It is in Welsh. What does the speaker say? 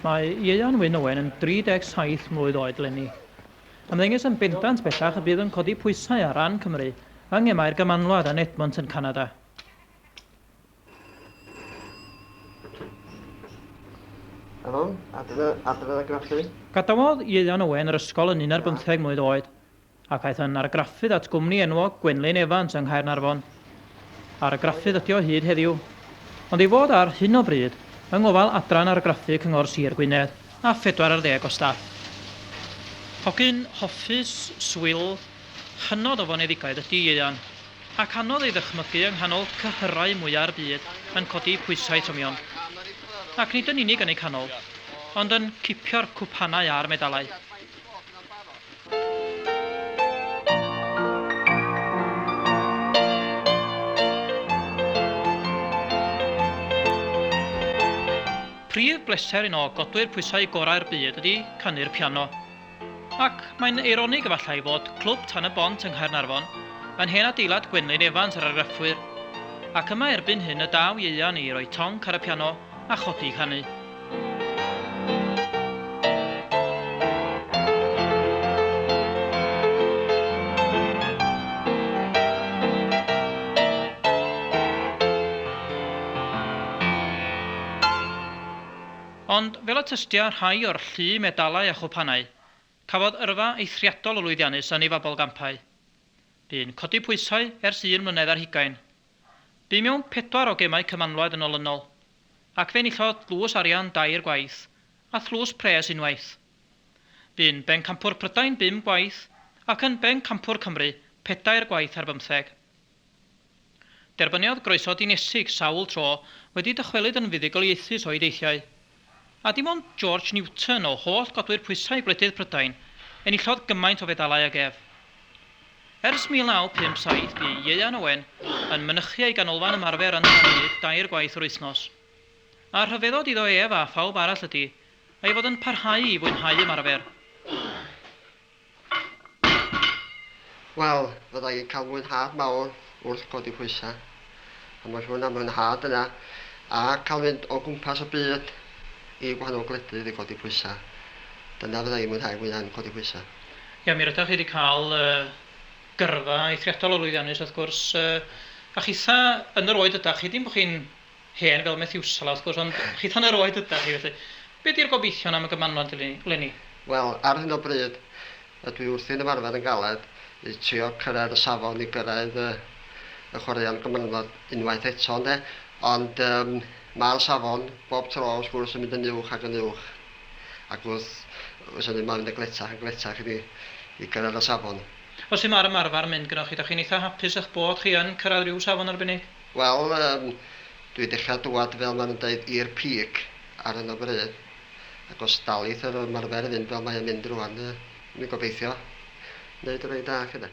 Mae Ieuan Wyn Owen yn 37 mlwydd oed lenni. Ymddengys yn bendant bellach y bydd yn codi pwysau ar ran Cymru yng ngemau'r Gymanwlad yn Edmonton, Canada. Helo, adre, adre a graffu. Gadawodd Ieuan Owen yr ysgol yn un ar bymtheg mlwydd oed, ac aeth yn argraffydd at gwmni enwog Gwenlyn Evans yng Nghaernarfon. Argraffydd ydi o hyd heddiw, ond ei fod ar hyn o bryd yng ngofal Adran Argraffu Cyngor Sir Gwynedd. a phedwar ar ddeg o staff. Hogyn hoffus, swil, hynod o foneddigaidd ydi Ieuan, ac anodd ei ddychmygu yng nghanol cyhyrau mwya'r byd yn codi pwysau tymion. Ac nid yn unig yn eu canol, ond yn cipio'r cwpanau a'r medalau. Prif bleser un o godwyr pwysau gorau'r byd ydy canu'r piano. Ac mae'n eironig efallai fod Clwb Tan y Bont yng Nghaernarfon yn hen adeilad Gwenlyn Evans yr argraffwyr, ac yma erbyn hyn y daw Ieuan i roi tonc ar y piano a chodi i ganu. Ond fel y tystia rhai o'r llu medalau a chwpanau, cafodd yrfa eithriadol o lwyddiannus yn ei fabolgampau. Bu'n codi pwysau ers un mlynedd ar hugain. Bu mewn pedwar o gemau Cymanwlad yn olynol, ac fe enillodd dlws arian dair gwaith, a thlws pres unwaith. Bu'n bencampwr Prydain bum gwaith, ac yn bencampwr Cymru pedair gwaith ar bymtheg. Derbyniodd groeso dinesig sawl tro, wedi dychwelyd yn fuddugoliaethus o'i deithiau. A dim ond George Newton, o holl godwyr pwysau gwledydd Prydain, enillodd gymaint o fedalau ag ef. Ers 1957 bu Ieuan Owen yn mynychu ei ganolfan ymarfer yn Llanrug dair gwaith yr wythnos. A rhyfeddod iddo ef a phawb arall ydi ei fod yn parhau i fwynhau ymarfer. Wel, fydda i'n cael mwynhad mawr wrth godi pwysau. A mae siŵr na mwynhad yna. A cael mynd o gwmpas y byd i gwahanol gwledydd i godi pwysau. Dyna fydda i'n mwynhau fwya yn codi pwysau. Ia, mi rydach chi wedi cael gyrfa eithriadol o lwyddiannus wrth gwrs. A chitha yn yr oed ydach chi, dim bod chi'n Hen fel Methiwsela wrth gwrs, ond chith hanner oed ydach chi, felly be di'r gobeithion am y gymanwlad eleni? Wel, ar hyn o bryd, ydw i wrthi'n ymarfer yn galed i trio cyrraedd y safon i gyrraedd y chwaraeon gymanwlad unwaith eto ynde, ond yym ma'r safon bob tro wrth gwrs yn mynd yn uwch ac yn uwch, ac wrth wrs hynny mae'n mynd yn gletach yn gletach i ni i gyrraedd y safon. O sut mae'r ymarfer yn mynd gynnoch chi, dach chi'n eitha' hapus â'ch bod chi yn cyrraedd rhyw safon arbennig? Wel yym dwi dechra dwad fel ma nhw'n deud i'r peak ar hyn o bryd ac os dalith yr ymarfer fynd fel mae o'n mynd rwan yy dwi'n gobeithio neud rei da 'lly de.